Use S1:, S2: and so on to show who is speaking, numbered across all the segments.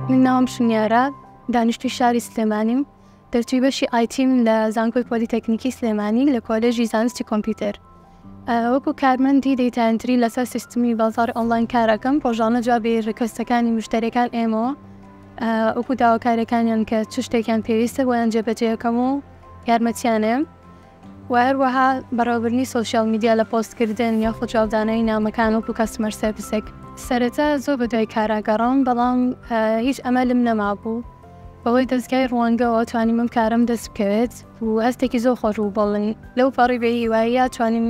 S1: من ناوم شنیارە دانیشتوی شاری سلێمانیم دەرچوی بەشی ئایتیم لە زانکۆی پۆلیتەکنیکی سلێمانی لە کۆلێژی زانستی کۆمپیوتەر وەکو کارمەندی دەیتانتری لەسەر سیستمی بازار ئۆنلاین کارەکەم ڕۆژانە جوابی ڕکستەکانی مشتەرەکان ئێمەوە وەکو داواکارەکانیان کە چ شتێکیان پێویستە بۆیان جێبەجێەکەم و یارمەتیانم و هەروەها بەڕێوەبردنی سۆشیال میدیا لە پۆست کردن یاخود جوابدانەوەی نامەکان وەکو کاستمەر سێرڤسێک. سەرەتا زۆر بە دوای کارا گەڕام بەڵام هیچ ئەمەلم نەمابوو. بەهۆی دەزگای ڕوانگەوە توانیمم کارەم دەست بکەوێت و هەستێکی زۆر خۆش بوو بۆ من. لەو پەڕی بێ هیواییە توانیم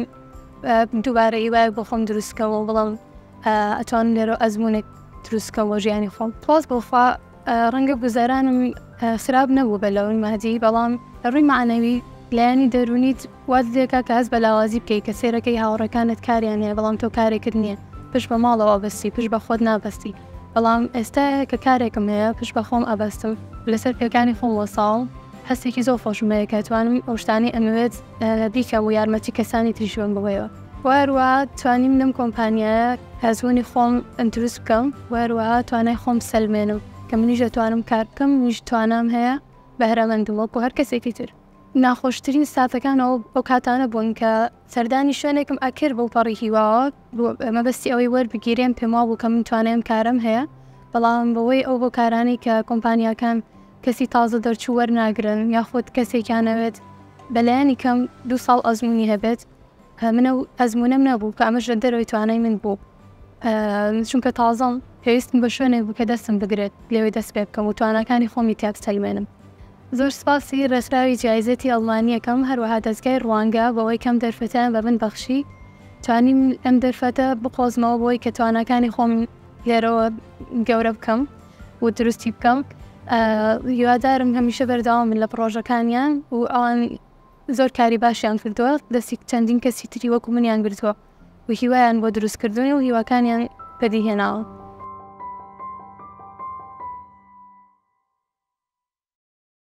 S1: دووبارە هیوایەک بۆ خۆم دروست کەم و بڵێم ئەتوانم لێرەوە ئەزموونێک دروست کەم بۆ ژیانی خۆم. سوپاس بۆ خوا ڕەنگە گوزەرانم خراپ نەبوو بە لەون مادی بەڵام لە ڕووی معنەوی لایەنی دەرونیت واز لێکا کە هەست بە لاوازی بکەیت کە سێرەکەی هاوڕێکانت کاریان هەیە بەڵام تۆ کارێکت نییە پشت بە ماڵەوە ئەبەستی پشت بە خۆت نابەستی بەڵام ئێستا کە کارێکم هەیە پشت بە خۆم ئەبەستم لەسەر پێکانی خۆم وەساوم هەستێکی زۆر خۆشم هەیە کە توانم ئەو شتانەی ئەمەوێت بیکەم و یارمەتی کەسانی تریش بەم بەوەیەوە. و هەروەها توانیم لەم کۆمپانیایە هەزموونی خۆم دروست بکەم و هەروەها توانای خۆم بسەلمێنم کە منیش دەتوانم کار بکەم منیش توانام هەیە بەهرەمەندم وەکو هەر کەسێکی تر ناخۆشترین ساتەکانەوە ئەو کاتانە بوون کە سەردانی شوێنێکم ئەکرد بۆ پەڕی هیواوە مەبەستی ئەوەی وەربگیرێم پێم وا بوو کە من توانایم کارم هەیە بەڵام بەوەی ئەو هۆکارانی کە کۆمپانیاکان کەسی تازە دەرچوو وەرناگرن یاخود کەسێکیانەوێت بەلایەنی کەم دو ساڵ ئەزمونی هەبێت من ئەو ئەزموونەم نەبوو کە ئەمەش لە دەرەوەی توانای من بوو چونکە تازەم پێویستم بە شوێنێک بوو کە دەستم بگرێت لەوێ دەست پێ بکەم و تواناکانی خۆمی تیا بسەلمێنم زۆر سپاسی ڕێکخراوی جایزەتی ئەڵمانییەکەم هەروەها دەزگای ڕوانگە بەوەی کەم دەرفەتیان بە من بەخشی توانیم ئەم دەرفەتە بقۆزمەوە بۆی کە تواناکانی خۆم لێرەوە گەورە بکەم و دروستی بکەم هیوادارم هەمیشە بەردەوام من لە پڕۆژەکانیان و ئەوان زۆر کاری باشیان کردووە دەستی چەندین کەسی تری وەکو منیان گرتووە و هیوایان بۆ دروست کردوون و هیواکانیان بەدی هێناوە.